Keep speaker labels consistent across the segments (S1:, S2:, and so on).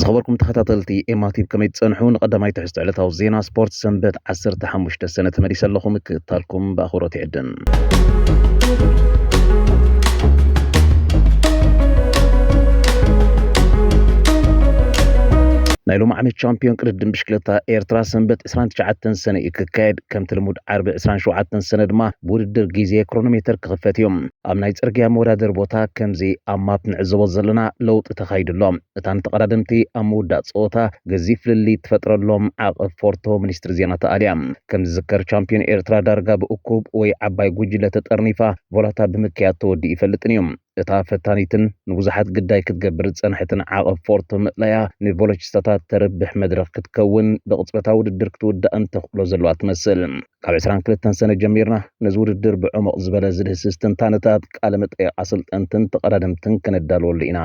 S1: ዝኸበርኩም ተኸታተልቲ ኤማቲብ ከመይ ትጸንሑ ንቐዳማይ ትሕዝቶ ዕለታዊ ዜና ስፖርት ሰንበት 15 ሰነ ተመሊሰ ኣለኹ ምክእታልኩም ብኣኽብሮት ይዕድም ናይ ሎሚ ዓመት ቻምፒዮን ቅድድም ብሽክለታ ኤርትራ ሰንበት 29 ሰነ እዩ ክካየድ ከምቲ ልሙድ ዓርቢ ዕስራን ሸውዓተን ሰነ ድማ ብውድድር ግዜ ክሮኖሜተር ክኽፈት እዩ። ኣብ ናይ ጽርግያ መወዳደሪ ቦታ ከምዚ ኣብ ማፕ ንዕዘቦ ዘለና ለውጢ ተኻይዱ ኣሎ። እታ ንተቐዳደምቲ ኣብ ምውዳእ ጸወታ ገዚፍ ፍልልይ እትፈጥረሎም ዓቕብ ፎርቶ ሚኒስትሪ ዜና ተኣልያ። ከም ዝዝከር ቻምፕዮን ኤርትራ ዳርጋ ብእኩብ ወይ ዓባይ ጉጅለ ተጠርኒፋ ቮላታ ብምክያድ ተወዲኡ ኣይፈልጥን እዩ። እታ ፈታኒትን ንብዙሓት ግዳይ ክትገብር ዝጸንሐትን ዓቐብ ፎርቶ ምእላያ፣ ንቮሎቺስታታት ተርብሕ መድረኽ ክትከውን ብቕጽበታ ውድድር ክትውዳእን ተኽእሎ ዘለዋ ትመስል። ካብ ዕስራን ክልተን ሰነ ጀሚርና ነዚ ውድድር ብዕሙቕ ዝበለ ዝድህስስ ትንታነታት፣ ቃለ መጠይቕ ኣሰልጠንትን ተቐዳደምትን ከነዳልወሉ ኢና።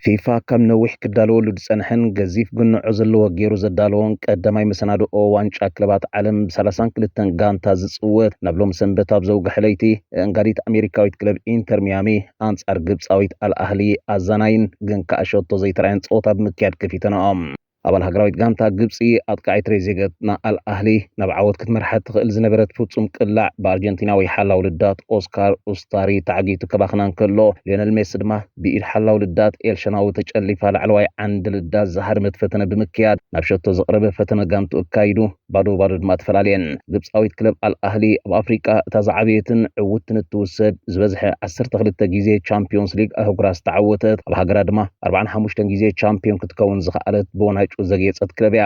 S1: ፊፋ ካብ ነዊሕ ክዳለወሉ ዝጸንሐን ገዚፍ ግንዖ ዘለዎ ገይሩ ዘዳለዎን ቀዳማይ መሰናድኦ ዋንጫ ክለባት ዓለም ብሰላሳን ክልተን ጋንታ ዝጽወት ናብ ሎም ሰንበት ኣብ ዘውግሐ ለይቲ እንጋዲት ኣሜሪካዊት ክለብ ኢንተር ሚያሚ ኣንጻር ግብጻዊት ኣልኣህሊ ኣዛናይን ግን ከኣ ሸቶ ዘይተራየን ጸወታ ብምክያድ ከፊተንኦም። ኣባል ሃገራዊት ጋንታ ግብጺ ኣጥቃዒት ትሬዜገት ንኣል ኣህሊ ናብ ዓወት ክትመርሓ እትኽእል ዝነበረት ፍጹም ቅላዕ ብኣርጀንቲናዊ ሓላው ልዳት ኦስካር ኡስታሪ ተዓጊቱ ከባኽና እንከሎ ሊዮነል ሜሲ ድማ ብኢድ ሓላው ልዳት ኤል ሸናዊ ተጨሊፋ ላዕለዋይ ዓንዲ ልዳት ዝሃደመት ፈተነ ብምክያድ ናብ ሸቶ ዘቕረበ ፈተነ ጋንትኡ ኣካይዱ። ባዶ ባዶ ድማ ተፈላልየን። ግብጻዊት ክለብ ኣል ኣህሊ ኣብ ኣፍሪቃ እታ ዝዓበየትን ዕውትትን እትውሰድ ዝበዝሐ ዓሰርተ ክልተ ግዜ ቻምፕዮንስ ሊግ ኣህጉራት ዝተዓወተት ኣብ ሃገራ ድማ ኣርብዓን ሓሙሽተን ግዜ ቻምፕዮን ክትከውን ዝኸኣለት ብወናጭ ዘግየጸት ክለብ እያ።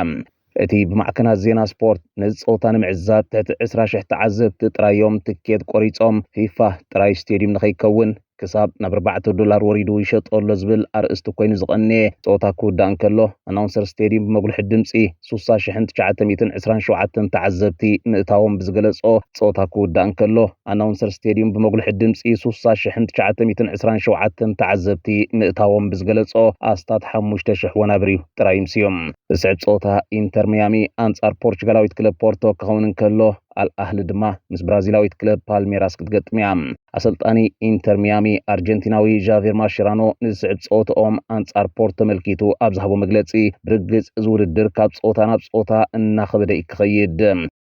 S1: እቲ ብማዕከናት ዜና ስፖርት ነዚ ጸወታ ንምዕዛብ ትሕቲ ዕስራ ሽሕ ተዓዘብቲ ጥራይ እዮም ትኬት ቆሪጾም ፊፋ ጥራይ ስቴድዩም ንኸይከውን ክሳብ ናብ ኣርባዕተ ዶላር ወሪዱ ይሸጦ ኣሎ ዝብል ኣርእስቲ ኮይኑ ዝቐነየ ጸወታ ክውዳእ እንከሎ፣ ኣናውንሰር ስቴድዩም ብመጉልሒ ድምጺ ስሳ ሽሕን ትሽዓተ ሚእትን ዕስራን ሸውዓተን ተዓዘብቲ ምእታዎም ብዝገለጾ ጸወታ ክውዳእ እንከሎ፣ ኣናውንሰር ስቴድዩም ብመጉልሒ ድምጺ ስሳ ሽሕን ትሽዓተ ሚእትን ዕስራን ሸውዓተን ተዓዘብቲ ምእታዎም ብዝገለጾ ኣስታት ሓሙሽተ ሽሕ ወናብር ጥራይ ምስ ዝስዕብ ጸወታ ኢንተር ሚያሚ ኣንጻር ፖርቹጋላዊት ክለብ ፖርቶ ክኸውን እንከሎ፣ ኣልኣህሊ ድማ ምስ ብራዚላዊት ክለብ ፓልሜራስ ክትገጥም እያ። ኣሰልጣኒ ኢንተር ሚያሚ ኣርጀንቲናዊ ዣቬር ማሽራኖ ንዝስዕብ ጸወታኦም ኣንጻር ፖርቶ ተመልኪቱ ኣብ ዝሃቦ መግለጺ ብርግጽ እዚ ውድድር ካብ ጸወታ ናብ ጸወታ እናኸበደ እዩ ክኸይድ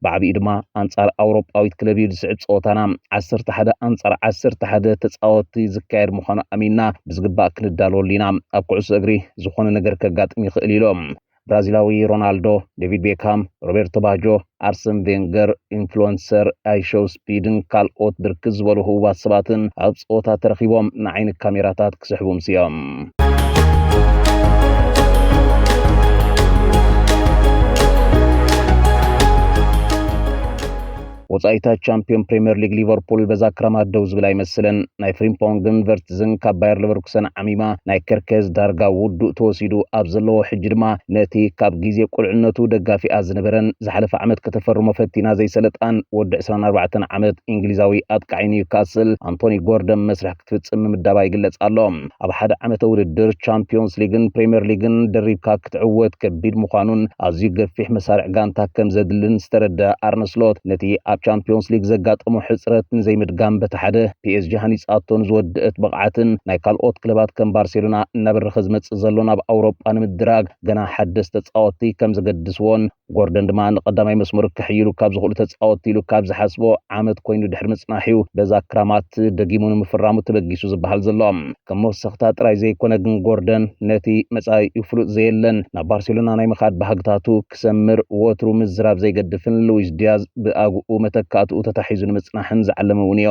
S1: ብዓቢኡ ድማ ኣንጻር ኣውሮጳዊት ክለብ እዩ ዝስዕብ ጸወታና ዓሰርተ ሓደ ኣንጻር ዓሰርተ ሓደ ተጻወቲ ዝካየድ ምዃኑ ኣሚንና ብዝግባእ ክንዳለወሉ ኢና ኣብ ኩዕሶ እግሪ ዝኾነ ነገር ከጋጥም ይኽእል ኢሎም ብራዚላዊ ሮናልዶ፣ ዴቪድ ቤካም፣ ሮቤርቶ ባጆ፣ ኣርሰን ቬንገር፣ ኢንፍሉዌንሰር ኣይሾው ስፒድን ካልኦት ብርክት ዝበሉ ህቡባት ሰባትን ኣብ ጸወታ ተረኺቦም ንዓይኒ ካሜራታት ክስሕቡ ምስዮም። ወፃኢታ ቻምፒዮን ፕሪምየር ሊግ ሊቨርፑል በዛ ክረማት ደው ዝብል ኣይመስልን። ናይ ፍሪምፖንግን ቨርትዝን ካብ ባየር ሊቨርኩሰን ዓሚማ ናይ ከርከዝ ዳርጋ ውዱእ ተወሲዱ ኣብ ዘለዎ ሕጂ ድማ ነቲ ካብ ግዜ ቁልዕነቱ ደጋፊኣ ዝነበረን ዝሓለፈ ዓመት ከተፈርሞ ፈቲና ዘይሰለጣን ወዲ ዕስራን ኣርባዕተን ዓመት ኢንግሊዛዊ ኣጥቃዒ ኒውካስል ኣንቶኒ ጎርደን መስርሕ ክትፍጽም ምምዳባ ይግለጽ ኣሎ። ኣብ ሓደ ዓመተ ውድድር ቻምፕዮንስ ሊግን ፕሪምየር ሊግን ደሪብካ ክትዕወት ከቢድ ምዃኑን ኣዝዩ ገፊሕ መሳርዕ ጋንታ ከም ዘድልን ዝተረድኣ ኣርነ ስሎት ነቲ ኣብ ቻምፕዮንስ ሊግ ዘጋጠሞ ሕጽረት ንዘይምድጋም በቲ ሓደ ፒኤስጂ ሃኒጻቶ ንዝወደእት ብቕዓትን ናይ ካልኦት ክለባት ከም ባርሴሎና እናበረኸ ዝመጽእ ዘሎን ኣብ ኣውሮጳ ንምድራግ ገና ሓደስቲ ተጻወትቲ ከም ዘገድስዎን ጎርደን ድማ ንቀዳማይ መስመር ክሕይሉ ካብ ዝኽእሉ ተጻወትቲ ኢሉ ካብ ዝሓስቦ ዓመት ኮይኑ ድሕሪ ምጽናሕ'ዩ በዛ ክራማት ደጊሙ ንምፍራሙ ተበጊሱ ዝበሃል ዘሎ። ከም መወሰኽታ ጥራይ ዘይኮነ ግን ጎርደን ነቲ መጻኢኡ ፍሉጥ ዘየለን ናብ ባርሴሎና ናይ ምኻድ ባህግታቱ ክሰምር ወትሩ ምዝራብ ዘይገድፍን ሉዊስ ዲያዝ ብኣግኡ መተካእትኡ ተታሒዙ ንምጽናሕን ዝዓለመ'ውንዮ።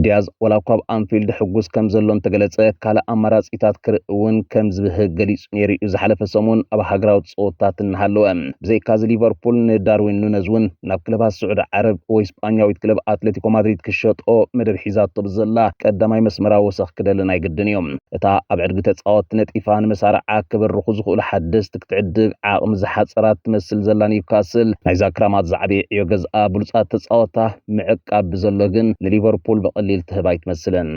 S1: ዲያዝ ዋላኳ ኣብ ኣንፊልድ ሕጉስ ከም ዘሎ እንተገለጸ፣ ካልእ ኣማራጺታት ክርኢ እውን ከም ዝብህግ ገሊጹ ነይሩ'ዩ ዝሓለፈ ሰሙን ኣብ ሃገራዊ ጸወታታት እናሃለወ። ብዘይካ'ዚ ሊቨርፑል ንዳርዊን ኑነዝ እውን ናብ ክለባት ስዑዲ ዓረብ ወይ ስጳኛዊት ክለብ ኣትለቲኮ ማድሪድ ክሸጦ መደብ ሒዛቶ ብዘላ ቀዳማይ መስመራዊ ወሰኽ ክደሊ ናይ ግድን እዩ። እታ ኣብ ዕድጊ ተጻወትቲ ነጢፋ ንመሳርዓ ክብርኹ ዝኽእሉ ሓደስቲ ክትዕድግ ዓቕሚ ዝሓጸራ እትመስል ዘላ ኒውካስል፣ ናይዛ ክራማት ዝዓበየ ዕዮ ገዝኣ ብሉጻት ተጻወታ፣ ምዕቃብ ብዘሎ ግን ንሊቨርፑል ብቐሊል ትህብ ኣይትመስልን።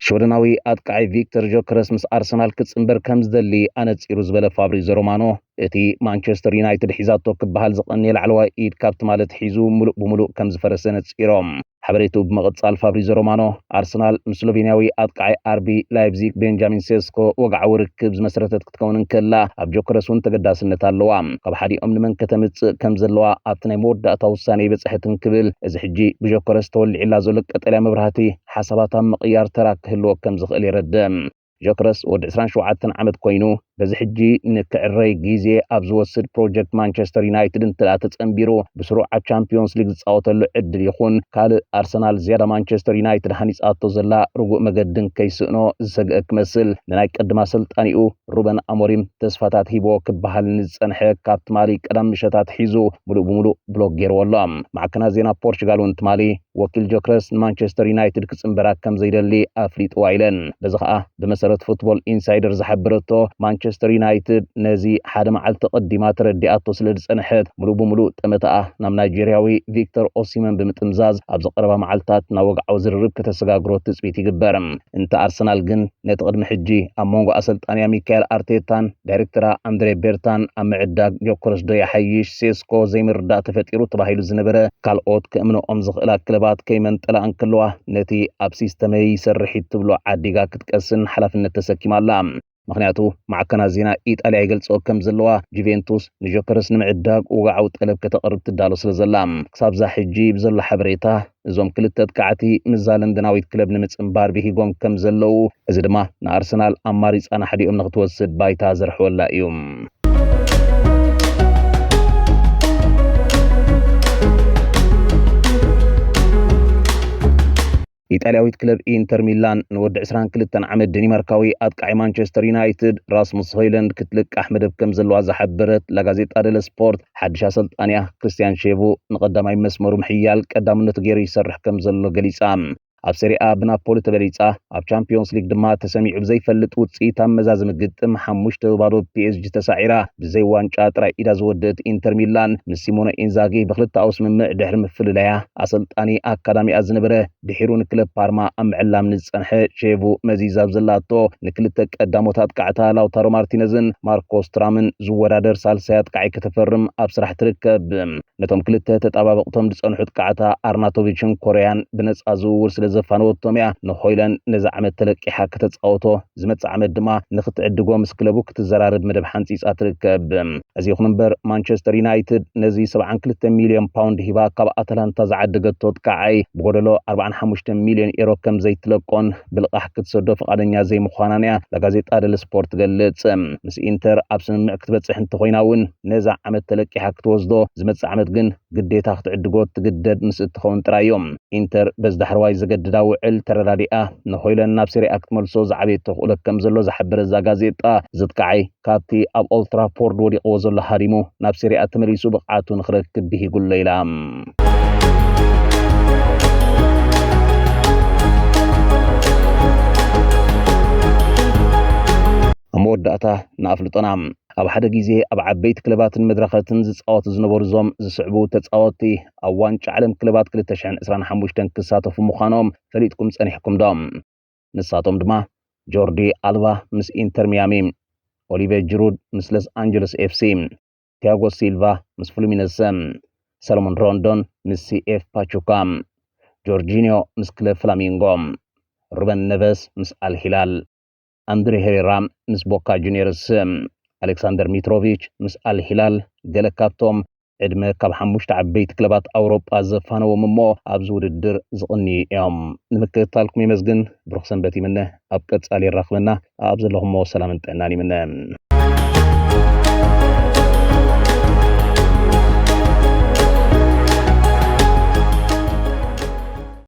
S1: ሽወደናዊ ኣጥቃዒ ቪክተር ጆከረስ ምስ ኣርሰናል ክጽንበር ከም ዝደሊ ኣነጺሩ ዝበለ ፋብሪዞ ሮማኖ እቲ ማንቸስተር ዩናይትድ ሒዛቶ ክበሃል ዝቐንየ ላዕለዋይ ኢድ ካብ ትማሊ ኣትሒዙ ምሉእ ብምሉእ ከም ዝፈረሰ ነጺሮም። ሓበሬትኡ ብምቕጻል ፋብሪዞ ሮማኖ፣ ኣርሰናል ምስ ስሎቬንያዊ ኣጥቃዓይ ኣርቢ ላይፕዚግ ቤንጃሚን ሴስኮ ወግዓዊ ርክብ ዝመስረተት ክትከውን እንከላ ኣብ ጆከረስ እውን ተገዳስነት ኣለዋ። ካብ ሓዲኦም ንመን ከተምጽእ ከም ዘለዋ ኣብቲ ናይ መወዳእታ ውሳኔ ኣይበጽሐትን ክብል እዚ ሕጂ ብጆከረስ ተወሊዕላ ዘሎ ቀጠልያ መብራህቲ ሓሳባት ኣብ ምቕያር ተራ ክህልዎ ከም ዝኽእል የረድእ። ዠክረስ ወዲ ዕስራን ሸውዓተን ዓመት ኮይኑ በዚ ሕጂ ንክዕረይ ግዜ ኣብ ዝወስድ ፕሮጀክት ማንቸስተር ዩናይትድ እንተደኣ ተጸንቢሩ ብስሩዓት ቻምፕዮንስ ሊግ ዝጻወተሉ ዕድል ይኹን ካልእ ኣርሰናል ዝያዳ ማንቸስተር ዩናይትድ ሃኒጻቶ ዘላ ርጉእ መገዲ እንከይስእኖ ዝሰግአ ክመስል ንናይ ቀድም ኣሰልጣኒኡ ሩበን ኣሞሪም ተስፋታት ሂቦ ክበሃል ንዝጸንሐ ካብ ትማሊ ቀዳም ምሸታት ሒዙ ምሉእ ብምሉእ ብሎክ ገይርዎ ኣሎ። ማዕከናት ዜና ፖርቹጋል እውን ትማሊ ወኪል ጆክረስ ንማንቸስተር ዩናይትድ ክጽንበራ ከም ዘይደሊ ኣፍሊጥዋ ኢለን። በዚ ከኣ ብመሰረት ፉትቦል ኢንሳይደር ዝሓበረቶ ማንቸስተር ዩናይትድ ነዚ ሓደ መዓልቲ ቀዲማ ተረዲኣቶ ስለ ዝጸንሐት ምሉእ ብምሉእ ጠመተኣ ናብ ናይጀርያዊ ቪክተር ኦሲመን ብምጥምዛዝ ኣብዚ ቀረባ መዓልታት ናብ ወግዓዊ ዝርርብ ከተሰጋግሮ ትጽቢት ይግበር። እንተ ኣርሰናል ግን ነቲ ቅድሚ ሕጂ ኣብ መንጎ ኣሰልጣኒኣ ሚካኤል ኣርቴታን ዳይሬክተራ ኣንድሬ ቤርታን ኣብ ምዕዳግ ዮከረስ ዶ ይሓይሽ ሴስኮ ዘይምርዳእ ተፈጢሩ ተባሂሉ ዝነበረ ካልኦት ክእምነኦም ዝኽእላ ክለባት ከይመንጠላ እንከለዋ ነቲ ኣብ ሲስተመይ ይሰርሕ እዩ ትብሎ ዓዲጋ ክትቀስን ሓላፍነት ተሰኪማ ኣላ። ምኽንያቱ ማዕከናት ዜና ኢጣልያ ይገልጽኦ ከም ዘለዋ፣ ጁቬንቱስ ንጆከርስ ንምዕዳግ ወግዓዊ ጠለብ ከተቕርብ ትዳሎ ስለ ዘላ፣ ክሳብ'ዛ ሕጂ ብዘሎ ሓበሬታ እዞም ክልተ ኣጥቃዕቲ ምስ'ዛ ለንደናዊት ክለብ ንምጽንባር ብሂጎም ከም ዘለዉ፣ እዚ ድማ ንኣርሰናል ኣማሪጻ ናሕዲኦም ንኽትወስድ ባይታ ዘርሕወላ እዩ። ኢጣልያዊት ክለብ ኢንተር ሚላን ንወዲ ዕስራን ክልተን ዓመት ደኒማርካዊ ኣጥቃዒ ማንቸስተር ዩናይትድ ራስሙስ ሆይለንድ ክትልቃሕ መደብ ከም ዘለዋ ዝሓበረት ላጋዜጣ ደለ ስፖርት ሓድሽ ኣሰልጣኒኣ ክርስትያን ሼቡ ንቐዳማይ መስመሩ ምሕያል ቀዳምነቱ ገይሩ ይሰርሕ ከም ዘሎ ገሊጻ። ኣብ ሰሪኣ ብናፖሊ ተበሊጻ ኣብ ቻምፕዮንስ ሊግ ድማ ተሰሚዑ ብዘይፈልጥ ውጽኢት ኣብ መዛዘሚ ግጥም ሓሙሽተ ብባዶ ፒኤስጂ ተሳዒራ ብዘይ ዋንጫ ጥራይ ኢዳ ዝወደት ኢንተር ሚላን ምስ ሲሞነ ኢንዛጊ ብክልተኣዊ ስምምዕ ድሕሪ ምፍልላያ ኣሰልጣኒ ኣካዳሚኣ ዝነበረ ድሒሩ ንክለብ ፓርማ ኣብ ምዕላም ንዝጸንሐ ሼቭ መዚዝ ኣብ ዘላቶ ንክልተ ቀዳሞት ኣጥቃዕታ ላውታሮ ማርቲነዝን ማርኮስ ትራምን ዝወዳደር ሳልሳይ ኣጥቃዒ ከተፈርም ኣብ ስራሕ ትርከብ። ነቶም ክልተ ተጣባበቕቶም ዝጸንሑ ጥቃዕታ ኣርናቶቪችን ኮርያን ብነጻ ዝውውር ስለ ዘፋነወቶም'ያ ንሆይላንድ ነዚ ዓመት ተለቂሓ ከተጻውቶ ዝመጽእ ዓመት ድማ ንክትዕድጎ ምስ ክለቡ ክትዘራረብ መደብ ሓንጺጻ ትርከብ። እዚ ይኹን እምበር ማንቸስተር ዩናይትድ ነዚ 72 ሚልዮን ፓውንድ ሂባ ካብ ኣታላንታ ዝዓደገቶ ጥቃዓይ ብጎደሎ 45 ሚልዮን ኤሮ ከም ዘይትለቆን ብልቓሕ ክትሰዶ ፍቓደኛ ዘይምዃናን እያ ላጋዜጣ ደል ስፖርት ትገልጽ። ምስ ኢንተር ኣብ ስምምዕ ክትበጽሕ እንተኾይና እውን ነዛ ዓመት ተለቂሓ ክትወስዶ ዝመጽእ ዓመት ግን ግዴታ ክትዕድጎ እትግደድ ምስ እትኸውን ጥራይ እዩ። ኢንተር በዚ ዳሕረዋይ ዘገድዳ ውዕል ተረዳዲኣ፣ ንሆይለን ናብ ሴሪኣ ክትመልሶ ዝዓበየ ተኽእሎ ከም ዘሎ ዝሓበረት እዛ ጋዜጣ፣ ዝትከዓይ ካብቲ ኣብ ኦልድ ትራፎርድ ወዲቕዎ ዘሎ ሃዲሙ ናብ ሴሪኣ ተመሊሱ ብቕዓቱ ንኽረክብ ብሂጉ ኣሎ ኢላ። ኣብ መወዳእታ ንኣፍልጦና ኣብ ሓደ ግዜ ኣብ ዓበይቲ ክለባትን መድረኸትን ዝጻወቱ ዝነበሩ እዞም ዝስዕቡ ተጻወትቲ ኣብ ዋንጫ ዓለም ክለባት ክልተ ሽሕን ዕስራን ሓሙሽተን ክሳተፉ ምዃኖም ፈሊጥኩም ጸኒሕኩምዶ? ንሳቶም ድማ ጆርዲ ኣልባ ምስ ኢንተር ሚያሚ፣ ኦሊቬ ጅሩድ ምስ ለስ ኣንጀለስ ኤፍሲ፣ ቲያጎ ሲልቫ ምስ ፍሉሚነሰ፣ ሰለሞን ሮንዶን ምስ ሲኤፍ ፓቹካ፣ ጆርጂንዮ ምስ ክለብ ፍላሚንጎ፣ ሩበን ነቨስ ምስ ኣል ሂላል። ኣንድሬ ሄሬራ ምስ ቦካ ጁንየርስ፣ ኣሌክሳንደር ሚትሮቪች ምስ ኣል ሂላል ገለ ካብቶም ዕድመ ካብ ሓሙሽተ ዓበይቲ ክለባት ኣውሮጳ ዘፋነዎም እሞ ኣብዚ ውድድር ዝቕንዩ እዮም። ንምክትታልኩም የመስግን፣ ብሩኽ ሰንበት ይምነ፣ ኣብ ቀጻሊ የራኽበና፣ ኣኣብ ዘለኹሞ ሰላምን ጥዕናን ይምነ።